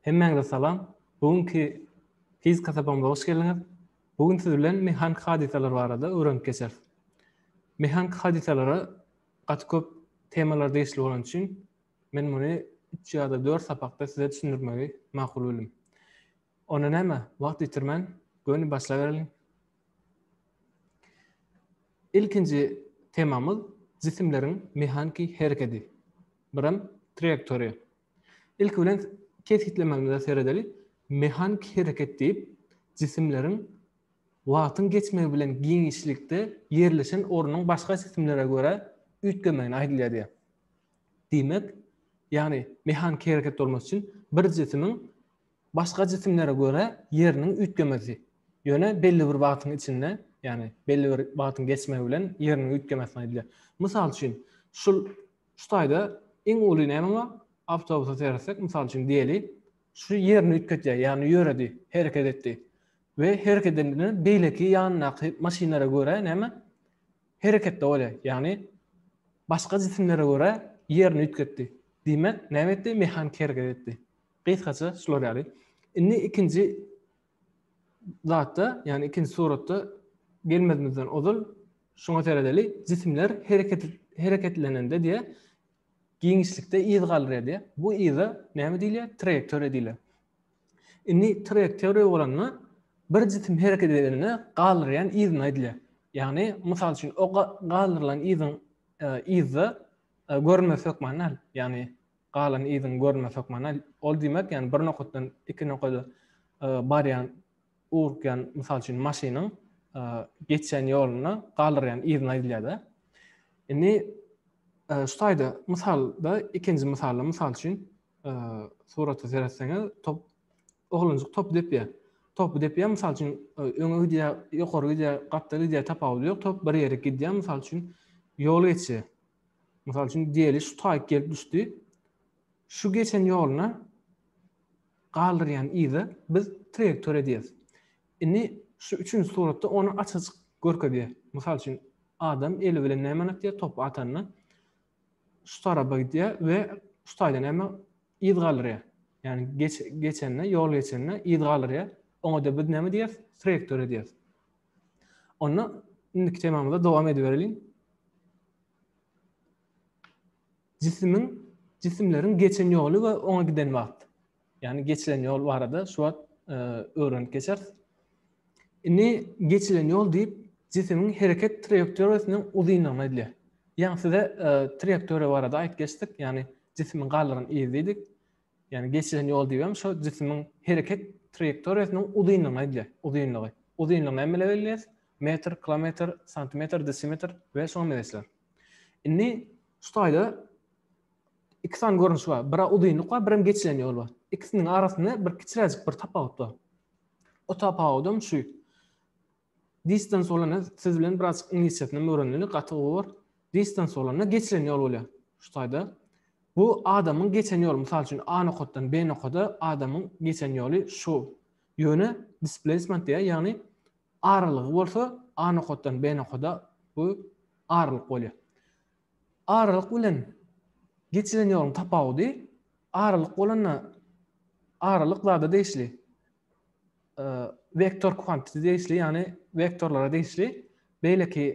Hemmäňize salam. Bu günki fizika sapagymyza hoş geldiňiz. Bu gün siz bilen mehaniki hadysalar barada öwrenip geçeris. Mehaniki hadysalara gaty köp temalar degişli bolany üçin men muny üç ýa-da dört sapakda size düşündirmegi makul bildim. Onda näme, wagt ýitirmän, göni başlabereliň. Ilkinji temamyz jisimleriň mehaniki herekedi. Birem traýektoriýa. Ilki bilen kesgitlemegimize seredeli. Mehaniki hereket diýip, jisimleriň wagtyň geçmegi bilen giňişlikde ýerleşen ornuň başga jisimlere görä üýtgemegine aýdylýar diýýär. Diýmek, ýagny mehaniki hereket bolmasy üçin bir jisimiň Başga jisimlere görä ýeriniň üýtgemesi, ýöne belli bir wagtyň içinde, ýagny belli bir wagtyň geçmegi bilen ýeriniň üýtgemesini aýdylýar. Mysal üçin, şul şu taýda iň uly näme bar? Awtobusa seretsek, mysal üçin diýeli, şu ýerini üýtgetýär, ýagny ýöredi, hereket etdi we hereket edende beýleki ýanyndaky maşynlara görä näme? Hereketde bolýar, ýagny başga jisimlere görä ýerini üýtgetdi. Diýmek, näme etdi? Mehanik hereket etdi. Gysgaça şular ýaly. Indi ikinji zatda, ýagny ikinji suratda gelmezimizden ozal şuňa seredeli. Jisimler hereket hereketlenende diýe giňişlikde yz galdyrýar diýe. Bu yza näme diýilýär? Traýektoriýa diýilýär. Indi traýektoriýa bolanda bir jisim hereket edende galdyrýan yzyny aýdylýar. Ýagny, mysal üçin, o galdyrylan yzyň e, yzda e, görünmez hökmany däl. Ýagny, galan yzyňy görme sokmana ol diýmek ýani bir nokatdan iki nokada barýan ugrukýan mysal üçin maşynyň geçýän ýoluna galdyrýan yzyny aýdylýada indi şu taýda mysalda ikinji mysalda mysal üçin surata seretseňiz top oglanjyk top depýär top depýär mysal üçin öňe gidýär ýokary gidýär gapdal gidýär tapawudy ýok top bir ýere gidýär mysal üçin ýol geçýär Mysal üçin diýeli şu taýyk gelip düşdi. Şu geçen ýoluna galdyrýan yzy biz traýektoriýa diýeris. Indi şu üçünji suratda ony aç-açyk görkezýär. Mysal üçin adam eli bilen nämä atýar topy atanda şu tarapa gidýär we şu taýda näme yz galdyrýar. Ýani geç, geçende, ýol geçende yz galdyrýar. Oňa da biz näme diýeris? Traýektoriýa diýeris. Onda indiki temamyzda dowam edibereliň. Jisimiň, jisimleriň geçen ýoly we oňa giden wagt. Ýagny geçilen ýol barada şu wagt öwrenip geçeris. Indi geçilen ýol diýip jisimiň hereket traýektoriýasynyň uzynlygyny aýdýar. Ýaňy size traýektoriýa barada aýyp geçdik, ýagny jisimiň galdyran yzy diýdik. Ýagny geçilen ýol diýibem şo jisimiň hereket traýektoriýasynyň uzynlygyny aýdýar, uzynlygy. Uzynlygy näme bilen belleýäs? Metr, kilometr, santimetr, desimetr we şoňa meňzeşler. Indi şu taýda iki sany görnüş bar. Biri uzynlyk bar, birem geçilen ýol bar. Ikisiniň arasynda bir kiçiräjik bir tapawut bar. O tapawudam şu. Distans bolanda siz bilen birazjyk iňlisçesinem öwreneli gaty gowy bor. Distans bolanda geçilen ýol bolýar şu taýda. Bu adamyň geçen ýoly. Mysal üçin A nokatdan B nokada adamyň geçen ýoly şu. Ýöne displacement diýýär, ýagny aralygy bolsa A nokatdan B nokada bu aralyk bolýar. Aralyk bilen geçilen ýoluň tapawudy aralyk bolanda aralyk zada degişli. Vektor kuantiti degişli, ýagny vektorlara degişli beýleki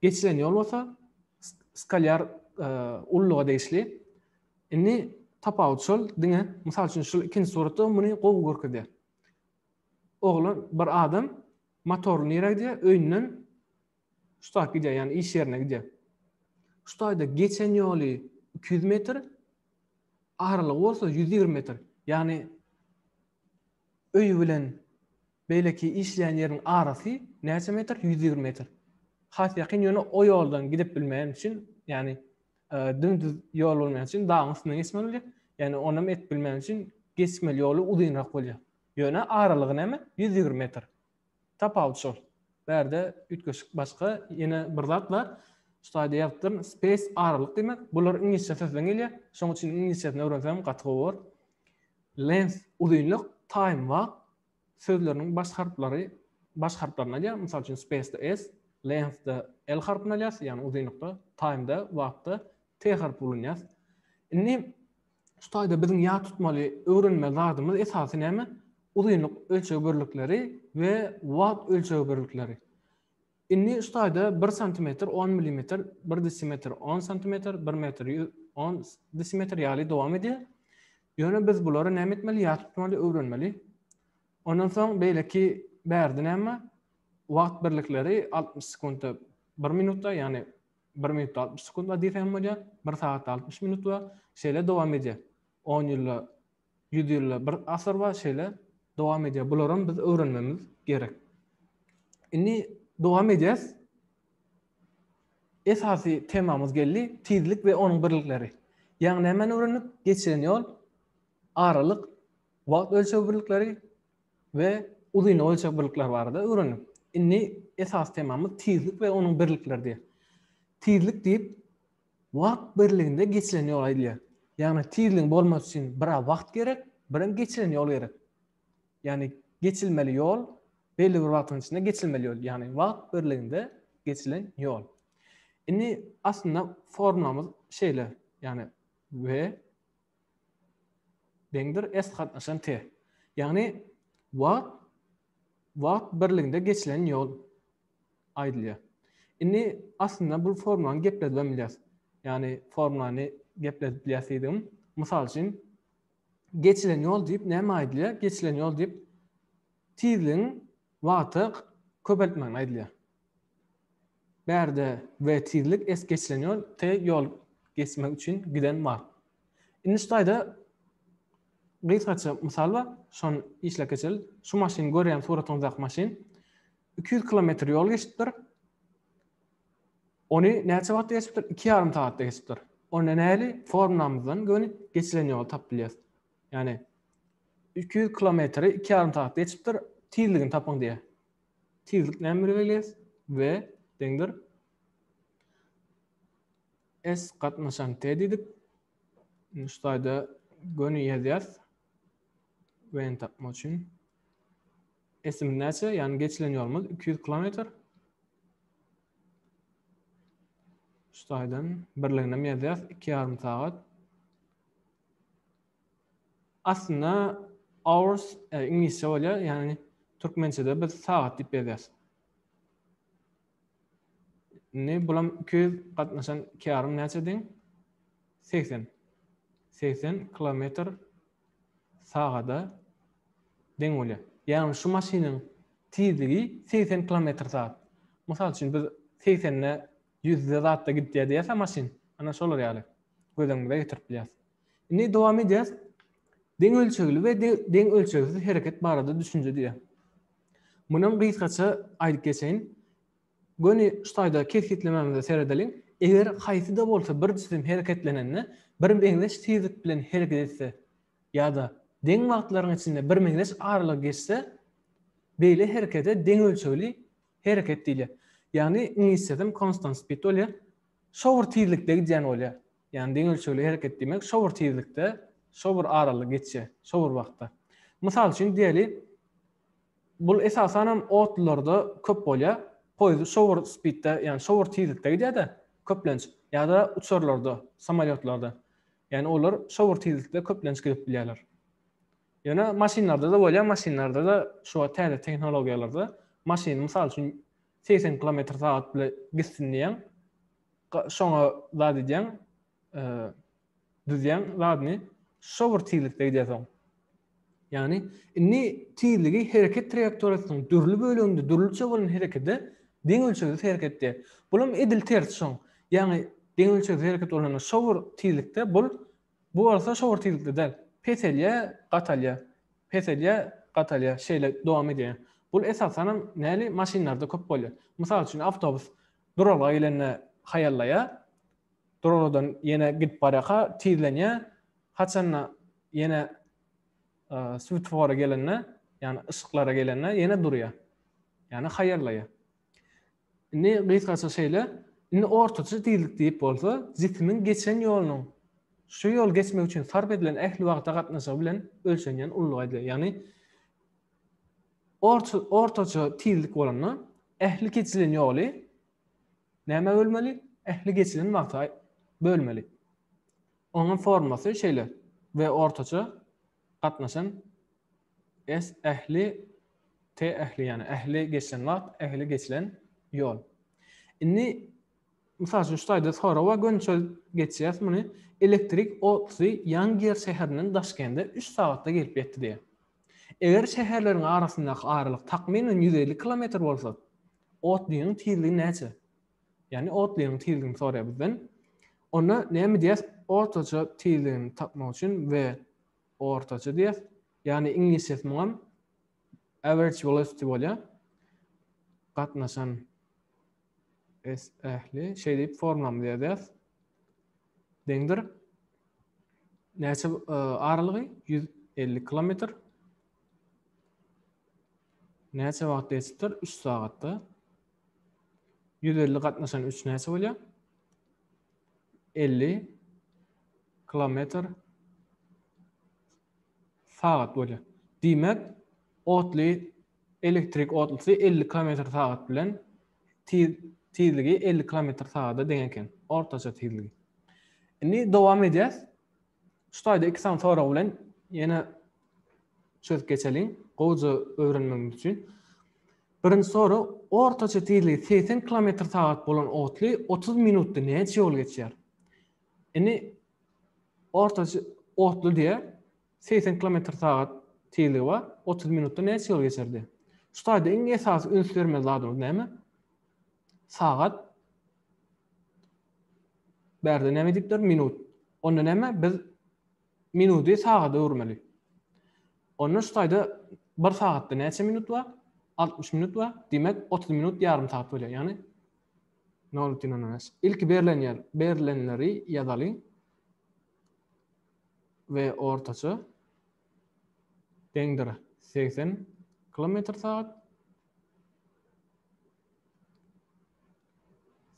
geçilen ýol bolsa skalýar e, ulluga degişli. Indi tapawut şol, diňe mysal üçin şu ikinji suratda muny gowy görkezýär. Oglan bir adam motorly nirä gidýär? Öýünden şu taýda gidýär, ýagny iş ýerine gidýär. Şu taýda geçen ýoly 200 metr, aralygy bolsa 120 metr. Ýagny Öýi bilen beýleki işleýän ýeriň arasy näçe metr? Ýüz ýigrimi metr. Has ýakyn, ýöne o ýoldan gidip bilmeýän üçin, ýagny dümdüz ýol bolmaýan üçin dagyň üstünden geçmeli bolýar. Ýagny onam edip bilmeýän üçin geçmeli ýoly uzynrak bolýar. Ýöne aralygy näme? Ýüz ýigrimi metr. Tapawut şol. Bärde üýtgeşik başga ýene bir zat bar. Şutaýda ýazypdyryn, space aralyk diýmek. Bular iňlisçe sözden gelýär. Şonuň üçin iňlisçesini öwrenseňem gaty gowy bolar. Length, uzynlyk, time, wagt, sözleriniň baş harplary baş harplaryny alýar. Mysal üçin, space-de S, length-de L harpyny alýas, ýagny uzynlykda, time-de, wagtda T harpy ulanýas. Indi Şu taýda biziň ýat tutmaly öwrenmeli zadymyz esasy näme? Uzynlyk ölçeg birlikleri we wagt ölçeg birlikleri. Indi şu taýda bir santimetr on milimetr, bir desimetr on santimetr, bir metr ýüz on desimetr ýaly dowam edýär. Ýöne biz bulary näme etmeli? Ýat tutmaly, öwrenmeli. Ondan soň beýleki bärde näme? Wagt birlikleri altmyş sekuntda bir minutda, ýagny Bir minut altmyş sekund diýse hem bolýar, bir sagat altmyş minut we şeýle dowam edýär. On ýylda, ýüz ýylda, bir asyr we şeýle dowam edýär. Bularam biz öwrenmemiz gerek. Indi dowam edýäs. Esasy temamyz geldi, tizlik we onuň birlikleri. Ýagny nämäni öwrendik? Geçilen ýol, aralyk, wagt ölçeg birlikleri, we uzyn ölçeg birlikleri barada öwrendik. Indi esasy temamyz tizlik we onuň birlikleri. Tizlik diýip wagt birliginde geçilen ýola aýdylýar. Ýagny tizligiň bolmasy üçin bir wagt gerek, bir hem geçilen ýol gerek. Ýagny geçilmeli ýol belli bir wagtyň içinde geçilmeli ýol, ýagny wagt birliginde geçilen ýol. Indi aslynda formulamyz şeýle, ýagny v Deňdir est gatnaşan te. Ýagny wagt wagt birliginde geçilen ýol aýdylýar. Indi aslynda bu formulany gepledip hem bilýäs. Ýagny formulany gepledip bilýäs diýdigim, mysal üçin geçilen ýol diýip näme aýdylýar? Geçilen ýol diýip tizligiň wagta köpeltmegini aýdylýar. Bärde we tizlik es geçilen ýol te ýol geçmek üçin giden wagt. Indi şu taýda gysgaça mysal bar, şony işläp geçeli. Şu maşyn görýän suratyňyzdaky maşyn iki ýüz kilometr ýol geçipdir. Ony näçe wagtda geçipdir? Iki ýarym sagatda geçipdir. Onda näli formlamyzdan göni geçilen ýoly tapyp bilýäris. Ýagny iki ýüz kilometri iki ýarym sagatda geçipdir, tizligini tapyň diýýär. Tizlik näme bilen belgileýäs? V deňdir S gatnaşan T diýdik. Indi şu taýda göni ýazýas. V-ni tapmak üçin. S-imiz näçe? Ýagny geçilen ýolumyz 200 kilometr. Şu taýdan birligini hem ýazýas. 2,5 sagat. Aslynda hours iňlisçe bolýar, ýagny türkmençede biz sagat diýip ýazýarys. Indi bulam 200 gatnaşan kärym näçe deň? 80. 80 kilometr sagada deň bolýar. Ýagny şu maşynyň tizligi 80 kilometr sagat. Mysal üçin biz 80-de 100-de zatda gidýär diýerse maşyn, ana şolar ýaly göz öňümize getirip bilýäris. Indi dowam edýäs. Deň ölçegli we deň ölçegsiz hereket barada düşünje diýýär. Munam gysgaça aýdyp geçeýin. Göni şu taýda kesgitlemämize seredeliň. Eger haýsy-da bolsa bir jisim hereketlenende birmeňzeş tizlik bilen hereket etse ýa-da deň wagtlaryň içinde birmeňzeş aralygy geçse, beýle herekete deň ölçegli hereket diýilýär. Ýagny iňlisçesem constant speed bolýar. Şo bir tizlikde gidýän bolýar. Ýagny deň ölçegli hereket diýmek şo bir tizlikde, şo bir aralyk geçýär, şo bir wagtda. Mysal üçin diýeli, bul esasanam otlularda köp bolýar. Poýezd şo bir spidde, ýagny şo bir tizlikde gidýär-de, köplenç, ýa-da uçarlarda, samolýotlarda. Ýagny olar şo bir tizlikde köplenç gidip bilýärler. Ýöne maşynlarda-da bolýar, maşynlarda-da şu wagt täze tehnologiýalarda maşyny mysal üçin segsen kilometr sagat bile gitsin diýýäň, Şoňa zat edýäň, düzýäň zadyny, şo bir tizlikde gidýärsoň. Ýagny, indi tizligi hereket traýektoriýasynyň dürli böleginde dürlüçe bolan herekede deň ölçegsiz hereket diýýär. Bulam edil tersi şoň. Ýagny, deň ölçegsiz hereket bolanda şo bir tizlikde bul Bu bolsa şowur tizlikde däl. Peselýär, gatalýar. Peselýär, gatalýar. Şeýle dowam edýär. Bul esasanam näli maşynlarda köp bolýar. Mysal üçin awtobus duralga gelende haýallaýar. Duralgadan ýene gidip barýarka tizlenýär. Haçanda ýene switofora gelende, ýagny yşyklara gelende ýene durýar. Ýagny haýallaýar. Indi gysgaça şeýle, indi ortaça tizlik diýip bolsa, jisimiň geçen ýolunyň şu ýoly geçmek üçin sarp edilen ähli wagta gatnaşygy bilen ölçenýän ululygy aýdylýar. Ýagny orta ortaça tizlik bolanda ähli geçilen ýoly nämä bölmeli? Ähli geçilen wagta bölmeli. Onuň formasy şeýle, V ortaça Gatnaşan es ähli te ähli ýagny ähli geçilen wagt ähli geçilen ýol. Indi mysal üçin şu taýda sorawa gönçel geçýäs muny elektrik otlusy Ýangýer şäherinden Daşkende üç sagatda gelip ýetdi diýýär. Eger şäherleriň arasyndaky aralyk takmynan ýüz elli kilometr bolsa, otlynyň tizligi näçe? Ýagny otlynyň tizligini soraýar bizden. Onda näme diýýäs? Ortaça tizligini tapmak üçin we ortaça diýýäs. Ýagny iňlisçesi muňam average velocity bolýar. Gatnaşan S ähli şeý diýip formulamyzy ýazýas. Deňdir. Näçe e, aralygy? 150 kilometr. Näçe wagt geçipdir? 3 sagatda. Ýüz elli gatnaşan üç näçe bolýar? Elli kilometr sagat bolýar. Diýmek, otly elektrik otlusy elli kilometr sagat bilen tizligi elli kilometr sagada deň eken. Ortaça tizligi. Indi dowam edýäs. Şu taýda iki sany sorag bilen ýene çözüp geçeliň, gowja öwrenmegiňiz üçin. Birinji sorag, ortaça tizligi 80 kilometr sagat bolan otly 30 minutda näçe ýol geçýär? Indi ortaça otly diýe 80 kilometr sagat tizligi bar, 30 minutda näçe ýol geçerdi? Şu taýda iň esasy üns bermeli zadymyz näme? Sagat Bärde näme diýipler? Minut. Onda näme? Biz minudy sagada öwürmeli. Onda şu taýda bir sagatda näçe minut bar? 60 minut bar. Diýmek, 30 minut ýarym sagat bolýar. Ýagny 0,05. Ilki berlen ýer, berlenleri ýazalyň. We ortaça deňdir 80 kilometr sagat.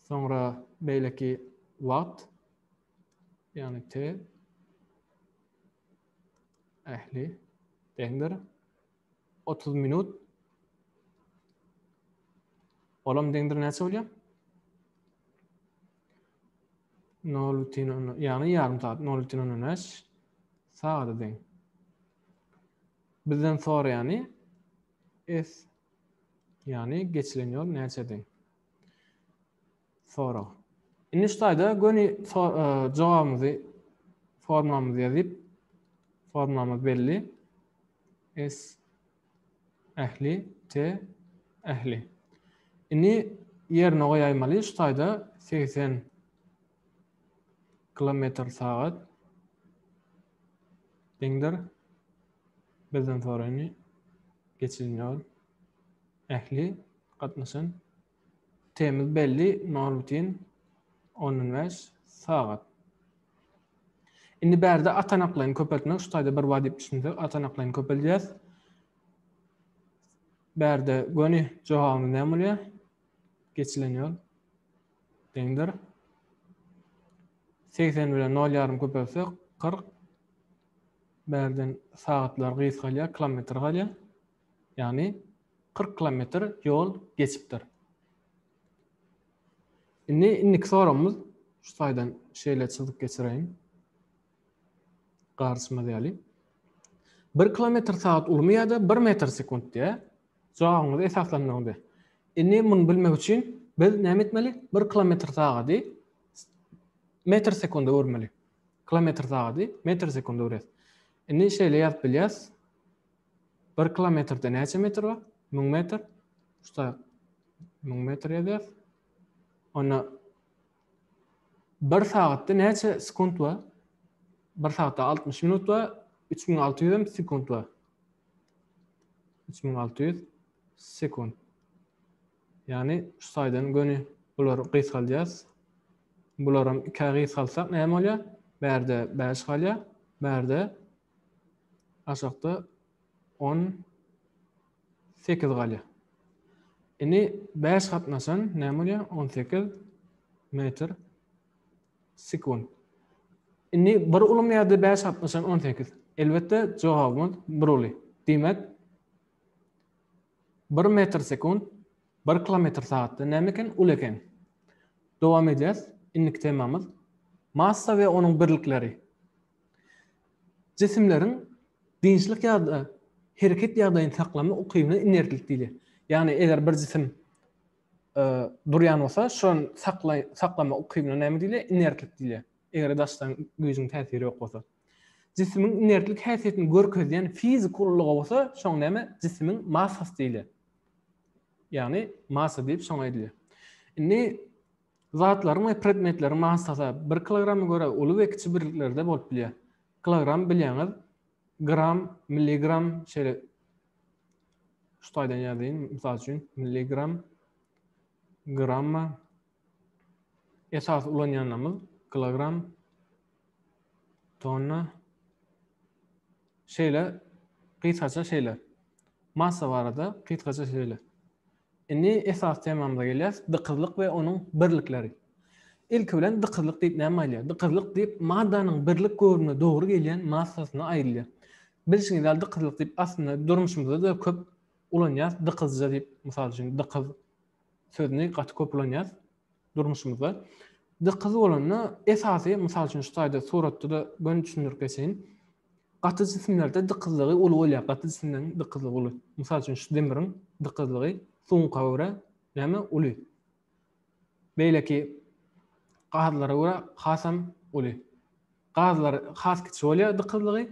Soňra beýleki wagt, ýagny t ähli deňdir otuz minut. Olam deňdir näçe bolýar? Nol bütin on, ýagny ýarym sagat, nol bütin ondan bäş sagada deň. Bizden soraýany s Ýagny geçilen ýol näçedi? Sorag. Indi şu taýda göni jogabymyzy formamyzy ýazyp, formamyz belli. S ähli T ähli. Indi ýerine goýaýmaly şu taýda 80 kilometr sagat deňdir Bizden soraýyny geçirin ýol ähli gatnaşan temiz belli Norbitin on on bäş sagat. Indi bärde atanaklaýyn köpeltmek şu taýda bir wajyp düşünsek atanaklaýyn köpeldýäs. Bärde göni jogabymyz näme bolýar? Geçilen ýol deňdir. 80 bilen 0 ýarym köpelsek 40 Bärden sagatlar gysgalýar, kilometr galýar. Ýagny kyrk kilometr ýol geçipdir. Indi indiki soragymyz şu taýdan şeýle çyzyk geçireýin. Garşymyz ýaly. Bir kilometr sagat ulumy ýa-da bir metr sekunt diýýär. Jogabyňyzy esaslandyryň diýýär. Indi muny bilmek üçin biz näme etmeli? Bir kilometr sagady metr sekunda öwürmeli. Kilometr sagady, metr sekundi öwres. Indi şeýle ýazyp bilýäs. Bir kilometrde näçe metr bar? Müň metr. Şuda müň metr ýazýas. Onda bir sagatda näçe sekund bar? Bir sagatda 60 minut bar, 3600 hem sekund bar. 3600 sekund. Ýagny şu taýdan göni bulary gysgaldýas. Bularam ikä gysgaltsak näme bolýar? Bärde bäş galýar, bärde aşakda on sekiz galýar. Indi bäş gatnaşan näme bolýar? On sekiz metr sekunt. Indi bir ulymy ýa-da bäş gatnaşan on sekiz. Elbetde jogabymyz bir uly. Diýmek, Bir metr sekunt bir kilometr sagatda näme eken uly eken. Dowam edýäs indiki temamyz massa we onuň birlikleri. Jisimleriň dynçlyk ýa-da hereket ýagdaýyny saklama ukybyna inertlik diýilýär. Ýagny eger bir jisim durýan bolsa şony saklama ukybyna näme diýilýär inertlik diýilýär. Eger daşdan güýjüň täsiri ýok bolsa. Jisimiň inertlik häsiýetini görkezýän fiziki ullaga bolsa şoň näme jisimiň massasy diýilýär. Ýagny massa diýip şoňa aýdylýar. Indi zatlaryň we predmetleriň massasy 1 kilograma görä uly we kiçi birliklerde bolup bilýär. Kilogram bilýäňiz gram, milligram şeýle şu taýdan ýazyň. Mysal üçin milligram, gramma, Esasy ulanýanymyz kilogram, tonna. Şeýle gysgaça şeýle. Massa barada gysgaça şeýle. Indi esas temamyza gelýäs, dykyzlyk we onuň birlikleri. Ilki bilen dykyzlyk diýip näme aýdýar? Dykyzlyk diýip maddanyň birlik göwrüme dogry gelýän massasyna aýdylýar. Bilşiňiz ýaly dykyzlyk diýip aslynda durmuşymyzda-da köp ulanýas, dykyzja diýip, mysal üçin, dykyz, sözüni gaty köp ulanýas durmuşymyzda. Dykyz bolanda esasy mysal üçin şu taýda suratda-da göni düşündirip geçeýin. Gaty jisimlerde dykyzlygy uly bolýar. Gaty jisimleriň dykyzlygy uly. Mysal üçin şu demiriň dykyzlygy suňka görä näme uly. Beýleki gazlara görä hasam uly. Gazlar has kiçi bolýar dykyzlygy.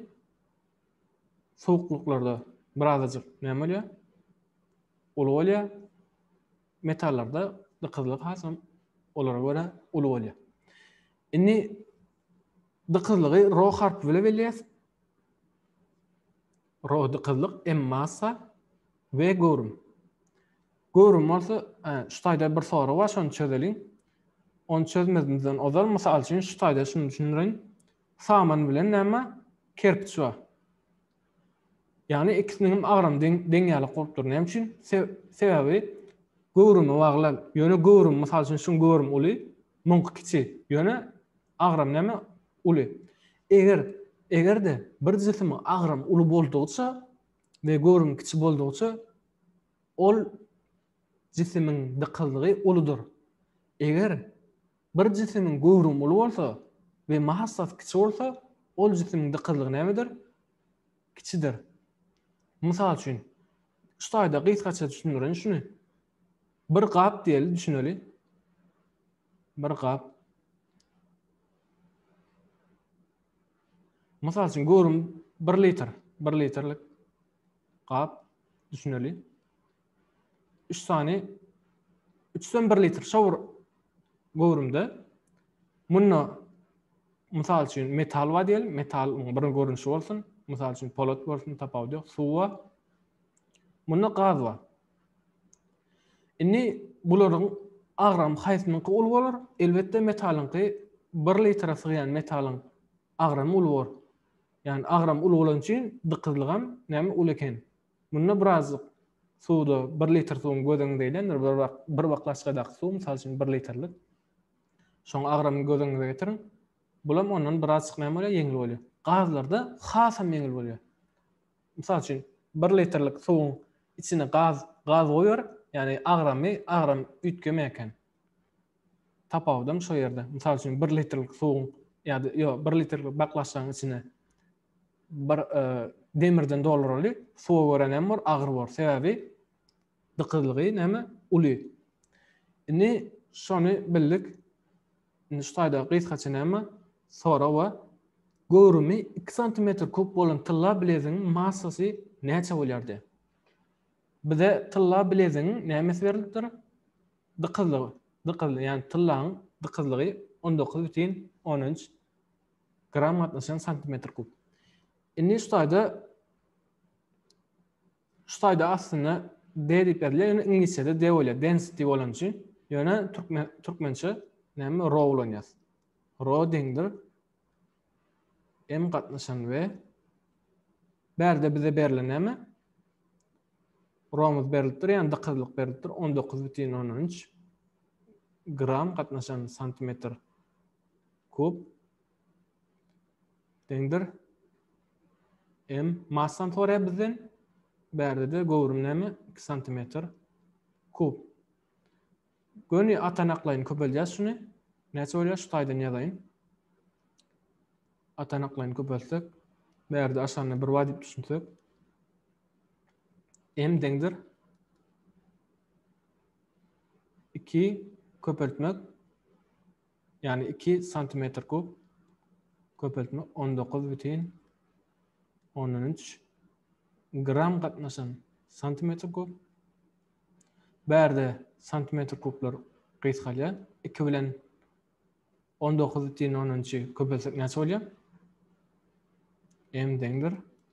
Suwuklyklarda birazajyk näme bolýar? Uly bolýar. Metallarda dykyzlyk has hem olara görä uly bolýar. Indi dykyzlygy ro harpy bilen belleýäs. Ro dykyzlyk, m massa, v göwrüm. Göwrüm bolsa, şu taýda bir sorag bar, şony çözeliň. Ony çözmezimizden ozal, mysal üçin, şu taýda şuny düşündireýin. Saman bilen näme? Kerpiç bar. Ýagny ikisiniňem agramy deň, deň ýalak bolup dur. Näme üçin? Sebäbi göwrüme bagly. Ýöne göwrüm, mysal üçin şuň göwrümi uly, muňky kiçi. Ýöne agram näme? Uly. Eger, eger-de bir jisimiň agramy uly boldugyça we göwrümi kiçi boldugyça ol jisimiň dykyzlygy uludyr. Eger Bir jisimiň göwrümi uly bolsa we massasy kiçi bolsa, ol jisimiň dykyzlygy nämedir? Kiçidir. Mysal üçin, şu taýda gysgaça düşündireýin şuny. Bir gap diýeli, düşüneli. Bir gap. Mysal üçin, göwrümi bir litr, bir litrlik gap, düşüneli. 3 sany 3-den 1 litr şowur göwrümde munda mysal üçin metal bar diýelim, metalyň bir görnüşi bolsun, mysal üçin polat bolsun, tapawudy ýok, suw bar. Munda gaz bar. Indi bularyň agram haýsynyňky uly bolar? Elbetde metalyňky 1 litre sygýan metalyň agramy uly bor. Ýagny agram uly bolan üçin dykyzlygam näme uly eken. Munda birazjyk suwda bir litr suwuň göz öňüňde eýlendir, bir baklaçkadaky suw, mysal üçin, bir litrlik. Şoň agramyny göz öňüňize getiriň. Bulam ondan birazjyk näme bolýar, ýeňil bolýar. Gazlarda hasam ýeňil bolýar. Mysal üçin, bir litrlik suwuň içine gaz, gaz goýber, ýagny agramy, agram üýtgemeýär eken. Tapawudam şo ýerde. Mysal üçin, bir litrlik suwuň ýa-da, ýok, bir litrlik baklaçkanyň içine bir e, demirden dolduraly suwa göre näme bor agyr bor sebäbi dykyzlygy näme uly indi şony bildik indi şu taýda gysgaça näme sora we göwrümi 2 sm kub bolan tylla bileziň massasy näçe bolýardy bize tylla bileziň nämesi berilipdir dykyzlygy dykyzly ýagny tyllaň dykyzlygy 19,13 Gram gatnaşýan santimetr kub. Indi şu taýda şu taýda aslynda D diýip ýazylýar, ýöne iňlisçede D bolýar, density bolan üçin. Ýöne türkmen türkmençe näme ro ulanýar. Ro deňdir m gatnaşan we bärde bize berlen näme? Romuz berilipdir, ýa dykyzlyk berilipdir, 19,13 gram gatnaşan santimetr Kub deňdir m massany soraýar bizden. Bärde-de göwrüm näme? 2 santimetr kub. Göni atanaklaýyn köpeldýäs şuny. Näçe bolýar? Şu taýdan ýazaýyn. Atanaklaýyn köpeltsek, bärde aşanyny bir bar diýip düşünsek. M deňdir 2 köpeltmek Ýagny iki santimetr kub köpeltme on dokuz bütin ondan üç gram gatnaşan santimetr kub. Bärde santimetr kublar gysgalýar. Iki bilen on dokuz bütin ondan üçi köpeltsek näçe bolýar? M deňdir.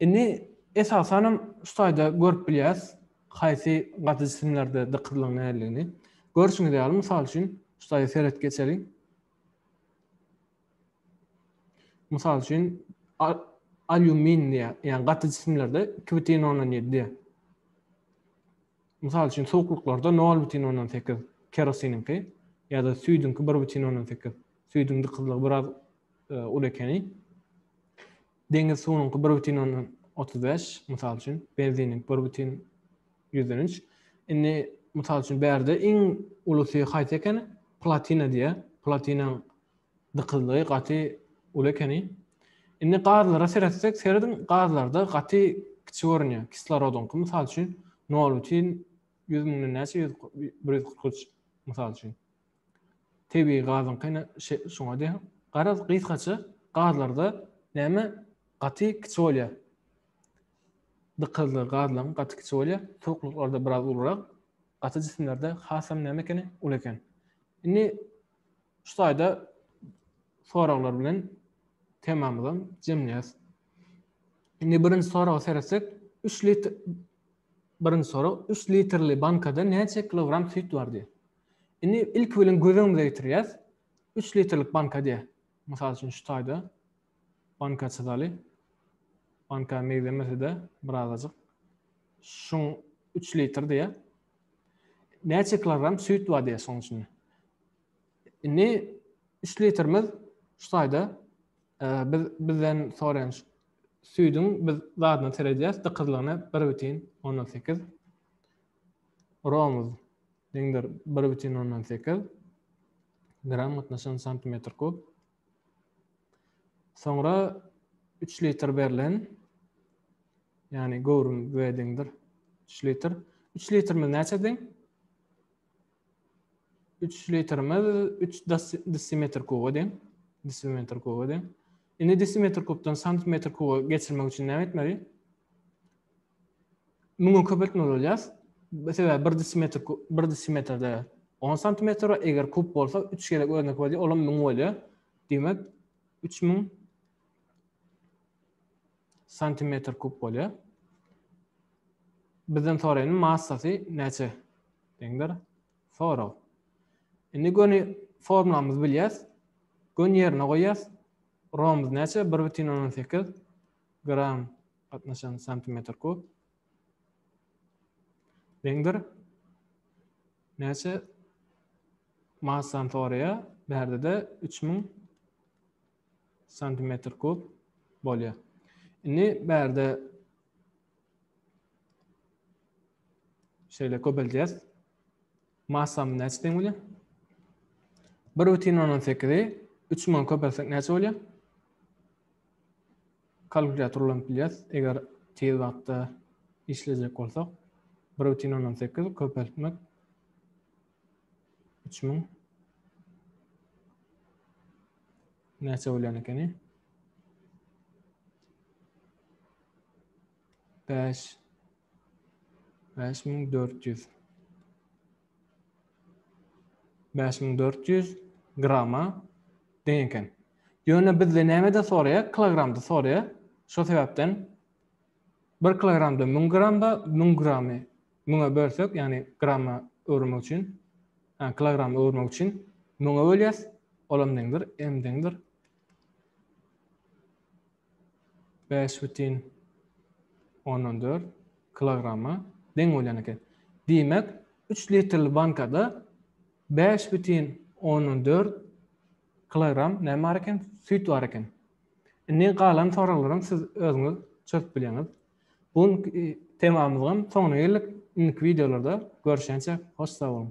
Indi esasanam şu taýda görüp bilýäris, haýsy gaty jisimlerde dykyzlygyň nädeligini. Görşüňiz ýaly, mysal üçin, şu taýda seredip geçeliň. Mysal üçin, alýumin diýýär, ýagny gaty jisimlerde iki bütin ondan ýedi. Mysal üçin, suwuklyklarda nol bütin ondan sekiz kerosiniňki ýa-da süýdüňki bir bütin ondan sekiz. Süýdüň dykyzlygy biraz e, uly ekeni. Deňiz suwunyňky bir bütin ondan otuz bäş, mysal üçin, benziniň bir bütin ýüzden üç. Indi, mysal üçin, bärde iň ulusy haýsy ekeni? Platina diýýär. Platinaň dykyzlygy gaty uly ekeni. Indi gazlara seretsek, serediň, gazlarda gaty kiçi görünýär. Kislorodyňky, mysal üçin, nol bütin ýüz müňden näçe? Ýüz bir ýüz kyrk üç, mysal üçin. Tebigy gazyň kyn şuňa deň. Garaz, gysgaça, gazlarda näme gaty kiçi bolýar. Dykyzly gazlaryň gaty kiçi bolýar. Suwuklyklarda biraz ulurak, gaty jisimlerde hasam näme ekeni, uly eken. Indi şu taýda soraglar bilen temamyzam jemleýäs. Indi birinji soraga seretsek, 3 litr birinji sorag 3 litrli bankada näçe kilogram süýt bar diýýär. Indi ilki bilen göz öňümize getirýäs. 3 litrlik banka diýä. Mysal üçin şu taýda banka çyzaly. Banka megzemese-de birazajyk. Şuň 3 litr diýä. Näçe kilogram süýt bar diýä şoň içinde. Indi 3 litrimiz şu taýda e, biz bizden soraýan süýdüň biz zadyna seredýäs, dykyzlygyna 1,18. Romuz, deňdir, bir bütin ondan sekiz gram gatnaşan santimetr kub. Soňra üç litr berlen, ýagny göwrüm we deňdir üç litr. Üç litrimiz näçe deň? Üç litrimiz üç desimetr kuba deň. Desimetr kuba deň. Indi desimetr kubdan santimetr kuba geçirmek üçin näme etmeli? müňe köpeltmeli bolýas. Sebäbi bir desimetr bir desimetrde 10 santimetr, eger kub bolsa 3 gezek özüne köpelýär, olam 1000 bolýar. Diýmek 3000 santimetr kub bolýar. Bizden soraýan massasy näçe? Deňdir. Sorag. Indi göni formulamyzy bilýäs. Gön ýerine goýýas. Romumyz näçe? 1,18 Gram, gatnaşan santimetr kub. Deňdir. Näçe massany soraýar? Bärde-de üç müň santimetr kub bolýar. Indi bärde şeýle köbeldýäs. Massamy näçe deň bolýar? Bir bütin ondan sekizi üç bilen köpeltsek näçe bolýar? Kalkulýator ulanyp bilýäris, eger tiz wagtda işlejek bolsak. Bir bütin ondan sekiz köpeltmek üç müň näçe bolýan ekeni? Bäş Bäş müň dört ýüz. Bäş müň dört ýüz grama deň eken. Ýöne bizde nämede soraýar? Kilogramda soraýar. Şo sebäpden bir kilogramda müň gram bar, müň gramy müňe bölsek, ýagny grama öwürmek üçin, ha, kilograma öwürmek üçin müňe bölýäs, olam deňdir, m deňdir. Bäş bütin ondan dört kilograma deň bolýan eken. Diýmek, üç litrli bankada bäş bütin ondan dört kilogram näme bar eken? Süýt bar eken. Indi galan soraglaram siz özüňiz çözüp bilýäňiz. Bu günki temamyzam soňuna geldik. Indiki wideolarda görüşýänçä hoş sag boluň.